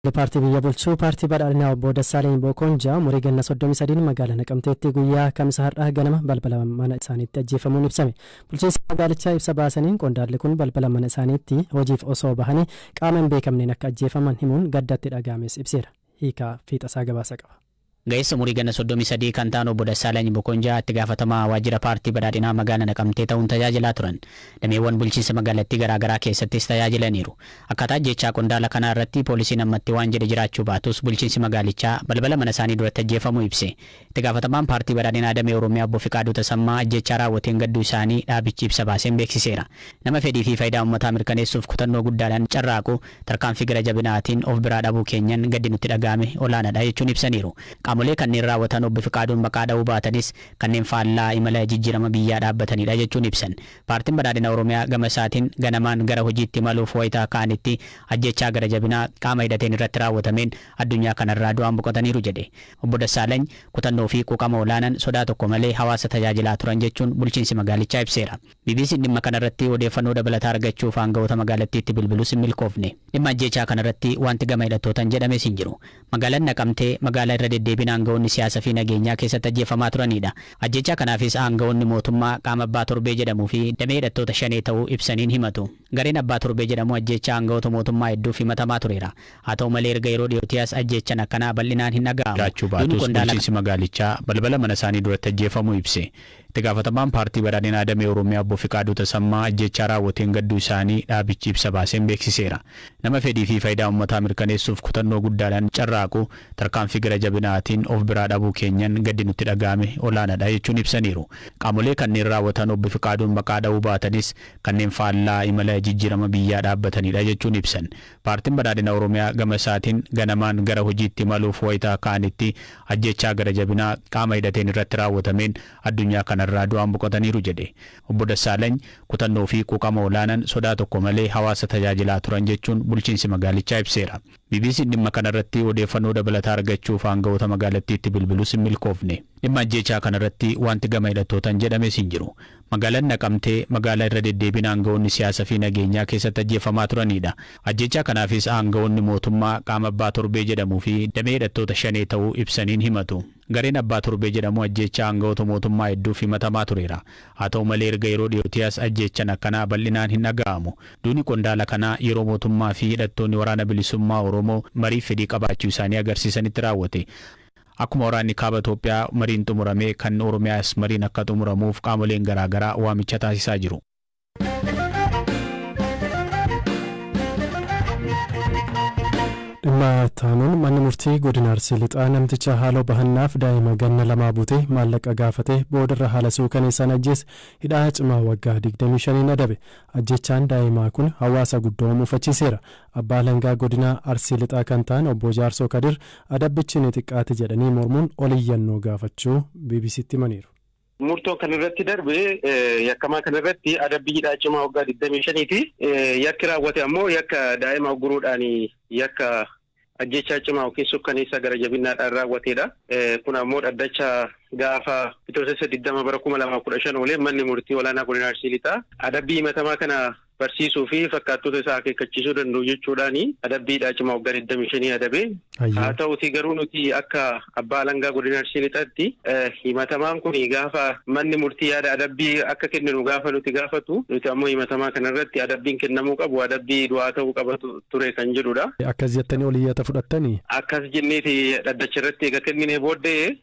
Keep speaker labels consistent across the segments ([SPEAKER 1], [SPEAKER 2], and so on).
[SPEAKER 1] Paartii biyya bulchu Paartii Badhaadhinaa Obbo Dassaaleny Bookonjaa umurii ganna 33n magaala Naqamteetti guyyaa Kamisa har'aa ganama balbala mana isaaniitti ajjeefamuun ibsame. Bulchiinsi magaalichaa ibsa baasaniin qondaalli kun balbala mana isaaniitti hojiif osoo bahanii qaama hin beekamneen akka ajjeefaman himuun gadda itti dhaga'ames ibseera. Hiikaa fiixasaa gabaasa qaba. Ga'eessa umurii ganna
[SPEAKER 2] 33 kan ta'an Obbo Dassaalany Bokonjaa itti gaafatamaa waajjira paartii Badhaadhinaa magaala Naqamtee ta'uun tajaajilaa turan. Dameewwan bulchiinsa magaalattii garaa garaa keessattis tajaajilaniiru. Akkaataa ajjeechaa qondaala kanaa irratti poolisiin ammatti waan jedhe jiraachuu baatus bulchiinsi magaalichaa balbala mana isaanii duratti ajjeefamuu ibse. Itti gaafatamaan paartii Badhaadhinaa damee Oromiyaa Obbo Fiqaaduu Tasammaa ajjeechaa raawwateen gadduu isaanii dhaabichi ibsa baaseen beeksiseera. Nama fedhii fi fayidaa ummataa mirkaneessuuf kutannoo guddaadhaan carraaqu tarkaanfii gara jabinaatiin of biraa dhabuu keenyan gaddi nutti dhaga'ame olaanaadha jechuun ibsaniiru. Qaamolee kanneen raawwatan Obbo Fiqaaduun maqaa dha'uu baatanis kanneen faallaa imala jijjirama biyyaa dhaabbataniidha jechuun ibsan. Paartiin Badhaadhina Oromiyaa gama isaatiin ganamaan gara hojiitti imaluuf wayita ka'anitti ajjeechaa gara jabinaa qaama hidhateen irratti raawwatameen addunyaa kanarraa du'aan boqotaniiru jedhe. Obbo Dassaalany kutannoo fi quuqama olaanan sodaa tokko malee hawaasa tajaajilaa turan jechuun bulchiinsi magaalichaa ibseera. BBC'n dhimma kanarratti odeeffannoo dabalataa argachuuf aanga'oota magaalattiitti bilbilus hin milkoofne. Dhimma ajjeechaa kanarratti waanti gama hidhattootan jedhames hin jiru. Magaalan Naqamtee magaalaa irra deddeebiin aanga'oonni siyaasa fi nageenyaa keessatti ajjeeffamaa turaniidha. Ajjeechaa kanaafis aanga'oonni mootummaa qaama Abbaa Torbee jedhamuu fi damee hidhattoota Shanee ta'uu ibsaniin himatu. Gareen Abbaa Torbee jedhamu ajjeechaa aanga'oota mootummaa hedduuf himatamaa tureera. Haa ta'u malee erga yeroo dhiyootii as ajjeechan akkanaa bal'inaan hin dhaga'amu. jiraachuu baatus bulchiinsi magaalichaa balbala manasaanii duratti ajjeefamuu ibse. Itti gaafatamaan Paartii Badhaadhinaa Damee Oromiyaa Obbo Fiqaaduu Tasammaa ajjeechaa raawwateen gadduu isaanii dhaabichi ibsa baaseen beeksiseera. Nama fedhii fi fayidaa ummataa mirkaneessuuf kutannoo guddaadhaan carraaqu tarkaanfii gara jabinaatiin of biraa dhabuu keenyan gaddi nutti dhaga'ame olaanadha jechuun ibsaniiru. Qaamolee kanneen raawwatan Obbo Fiqaaduun maqaa dha'uu baatanis kanneen faallaa imala jijjiirama biyyaa dhaabbatanidha jechuun ibsan. Paartiin Badhaadhina Oromiyaa gama isaatiin ganamaan gara hojiitti imaluuf wayita ka'anitti ajjeechaa gara jabinaa qaama hidhateen irratti raawwatameen addunyaa kanarraa du'aan boqotaniiru jedhe. Obbo Dassaalany kutannoo fi quuqama olaanaan sodaa tokko malee hawaasa tajaajilaa turan jechuun bulchiinsi magaalichaa ibseera. BBC'n dhimma kanarratti odeeffannoo dabalataa argachuuf aanga'oota magaalattiitti bilbilus hin milkoofne. Dhimma ajjeechaa kanarratti waanti gama hidhattootan jedhames hin jiru. Magaalan Naqamtee magaala irra deddeebiin aanga'oonni siyaasa fi nageenyaa keessatti ajjeeffamaa turaniidha. Ajjeechaa kanaafis aanga'oonni mootummaa qaama Abbaa Torbee jedhamuu fi damee hidhattoota Shanee ta'uu ibsaniin himatu. Gareen Abbaa Torbee jedhamu ajjeechaa aanga'oota mootummaa hedduuf himatamaa tureera. Haa ta'u malee erga yeroo dhiyootii as ajjeechan akkanaa bal'inaan hin dhaga'amu. Duuni qondaala kanaa yeroo mootummaa fi hidhattoonni Waraana Bilisummaa Oromoo mariif fedhii qabaachuu isaanii agarsiisanitti raawwate. Akkuma waraanni Kaaba Itoophiyaa mariin xumurame kan Oromiyaas mariin akka xumuramuuf qaamoleen garaa garaa waamicha taasisaa jiru.
[SPEAKER 1] Dhimma itti aanuun manni murtii godina Arsii Lixaa namticha haaloo bahannaaf daa'ima ganna lamaa butee maallaqa gaafatee boodarra haala suukaneessaan ajjeese hidhaa cimaa waggaa 25n adabe. Ajjechaan daa'imaa kun hawaasa guddaa mufachiiseera. Abbaa Alangaa godina Arsii Lixaa kan ta'an obbo Jaarsoo Kadir adabbichi ni xiqqaate jedhanii mormuun ol iyyannoo gaafachuu BBC'tti himaniiru. Murtoon kan
[SPEAKER 3] irratti darbe yakkamaa kana irratti adabbii hidhaa cimaa waggaa 25 fi yakki raawwate ammoo yakka daa'ima ugguruudhaan yakka ajjeechaa cimaa yookiin sukkaneessaa gara jabinnaadhaan raawwateedha. Kun ammoo dhaddacha gaafa Bitootessa 20 bara 2015 oolee manni murtii olaanaa godina Arsii Lixaa adabbii himatamaa kana barsiisuu fi fakkaattota isaa akeekkachiisuu danda'u jechuudhaani adabbii hidhaa cimaa waggaa 25 adabe. Haa ta'uutii garuu nuti akka abbaa alangaa godina Arsii Lixaatti himatamaan kun gaafa manni murtii yaada adabbii akka kenninu gaafa nuti gaafatu nuti ammoo himatamaa kanarratti adabbiin kennamuu qabu adabbii du'aa ta'uu qaba ture kan jedhudha. Akkas jettanii ol iyyata
[SPEAKER 1] fudhattanii? Akkas jenneeti dhaddacha
[SPEAKER 3] irratti eega kenninee booddee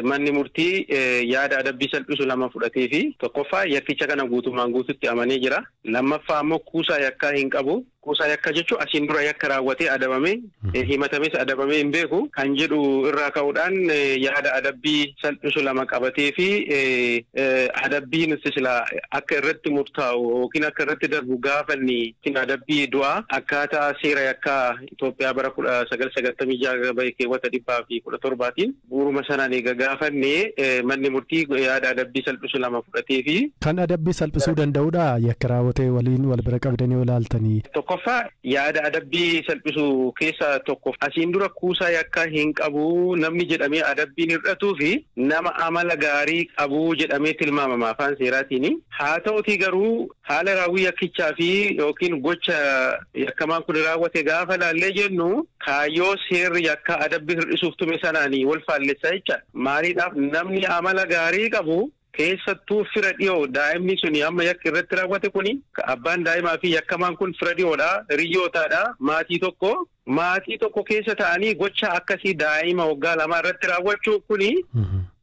[SPEAKER 3] Manni murtii yaada adabbii salphisu lama fudhateefi. Tokkoffaa yakkicha kana guutummaan guututti amanee jira. Lammaffaa ammoo kuusaa yakkaa hin qabu. Kuusaa yakkaa jechuun asiin dura yakka raawwatee adabame, himatames adabamee hin beeku kan jedhu irraa ka'uudhaan yaada adabbii salphisu lama qabateefi adabbii nuti silaa akka irratti murtaa'u yookiin akka irratti darbu gaafanne adabbii du'aa akkaataa seera yakkaa Itoophiyaa bara 1996 bahe keewwata 117tiin bu'uuruma sanaan eega gaafanne manni murtii yaada adabbii salphisu lama fudhateefi. Kan
[SPEAKER 1] adabbii salphisuu
[SPEAKER 3] danda'udhaa?
[SPEAKER 1] Yakka raawwate waliin wal bira
[SPEAKER 3] qabdanii
[SPEAKER 1] yoo ilaaltanii. Tokkoffaa,
[SPEAKER 3] yaada adabbii salphisu keessa tokko asiin dura kuusaa yakkaa hin qabu namni jedhamee adabbiin hirdhatuufi nama amala gaarii qabu jedhamee tilmaamama afaan seeraatiini. Haa ta'utii garuu Haala raawwii yakkichaa fi yookiin gocha yakkamaan kuni raawwate gaafa ilaallee jennu kaayyoo seerri yakkaa adabbii hir'isuuf tume sanaani wal faallessa jecha. Maaliidhaaf namni amala gaarii qabu keessattuu fira dhiyoo daa'imni suni amma yakki irratti raawwate kuni abbaan daa'imaa fi yakkamaan kun fira dhiyoodha, hiriyyootaadha, maatii tokko Maatii tokko keessa ta'anii gocha akkasii daa'ima waggaa lamaa irratti raawwachuun kuni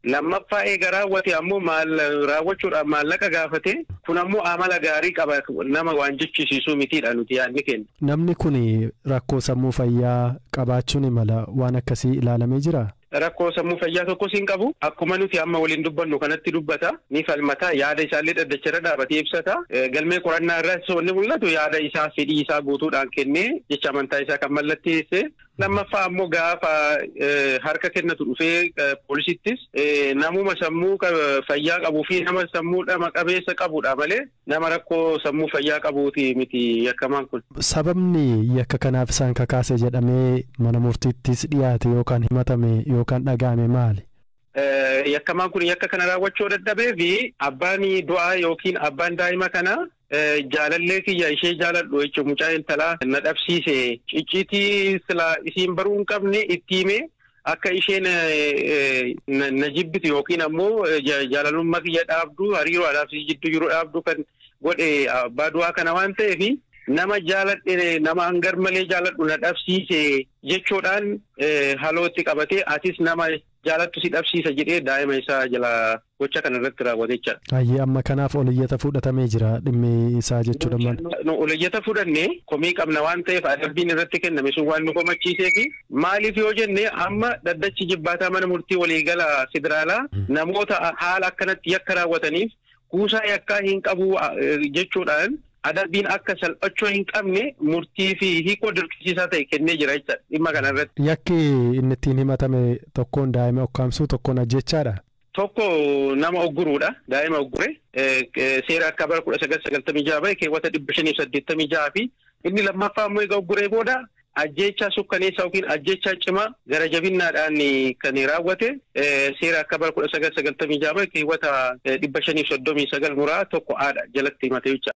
[SPEAKER 3] lammaffaa eega raawwate ammoo maal raawwachuudhaaf maallaqa gaafate kun ammoo amala gaarii qaba nama waan jechisiisuu mitiidha nuti yaadni keenya. Namni kuni
[SPEAKER 1] rakkoo sammuu fayyaa qabaachuun imala waan akkasii ilaalamee jiraa? Rakkoo sammuu fayyaa
[SPEAKER 3] tokkos hin qabu. Akkuma nuti amma waliin dubbannu kanatti dubbata, ni falmata, yaada isaallee dhaddacha irra dhaabatee ibsata. Galmee qorannaa irraas wanni mul'atu yaada isaa fedhii isaa guutuudhaan kennee jecha amantaa isaa kan mallatteesse. Lammaffaa ammoo gaafa harka kennatu dhufee poolisiittis namuma sammuu fayyaa qabuu fi nama sammuu dhama qabeessa qabudha malee Nama rakkoo sammuu fayyaa qabuuti miti yakkamaan kun. Sababni yakka
[SPEAKER 1] kanaaf isaan kakaase jedhamee mana murtiittis dhiyaate yookaan himatame yookaan dhaga'ame maali? Yakkamaan
[SPEAKER 3] kun yakka kana raawwachuu yoo dadhabeef abbaan du'aa yookiin abbaan daa'ima kanaa jaalallee kiyya ishee jaaladhu jechuun mucaa intalaa na dhabsiise icciitii silaa isiin baruu hin qabne itti himee Akka isheen na jibbitu yookiin ammoo jaalalummaa kiyya dhaabdu hariiroo anaaf si jidduu jiru dhaabdu kan godhe abbaa du'aa kana waan ta'eef nama jaaladhe nama hangar malee jaaladhu na dhabsiise jechuudhaan halootti qabatee atis nama jaalattu si dhabsiisa jedhee daa'ima isaa jala gocha kana irratti raawwate jecha dha. Hayyee amma kanaaf ol
[SPEAKER 1] iyyata fuudhatamee jira dhimmi isaa jechuu dha mal. Nu ol iyyata fudhanne
[SPEAKER 3] komii qabna waan ta'eef adabbiin irratti kenname sun waan nu komachiisee fi maaliif yoo jenne amma dhaddachi ijibbaataa mana murtii waliigala federaalaa namoota haala akkanatti yakka raawwataniif kuusaa yakkaa hin qabu jechuudhaan adabbiin akka salphachuu hin qabne murtii fi hiikoo dirqisiisaa ta'e kennee jira jecha dhimma kana irratti. Yakki inni ittiin
[SPEAKER 1] himatame tokkoon daa'ima ukkaamsuu tokkoon ajjeechaa dha. Tokko
[SPEAKER 3] nama ugguruudha. Daa'ima uggure seera akka bara kudha sagal sagaltamii ja'a bahe keewwata dhibba shanii fi saddeettamii ja'a fi inni lammaffaa immoo egaa ugguree booda ajjeechaa sukkaneessaa yookiin ajjeechaa cimaa gara jabinnaadhaan kan raawwate seera akka bara kudha sagal sagaltamii ja'a bahe keewwata dhibba shanii fi soddomii sagal muraa tokko haadha jalatti himate jechuudha.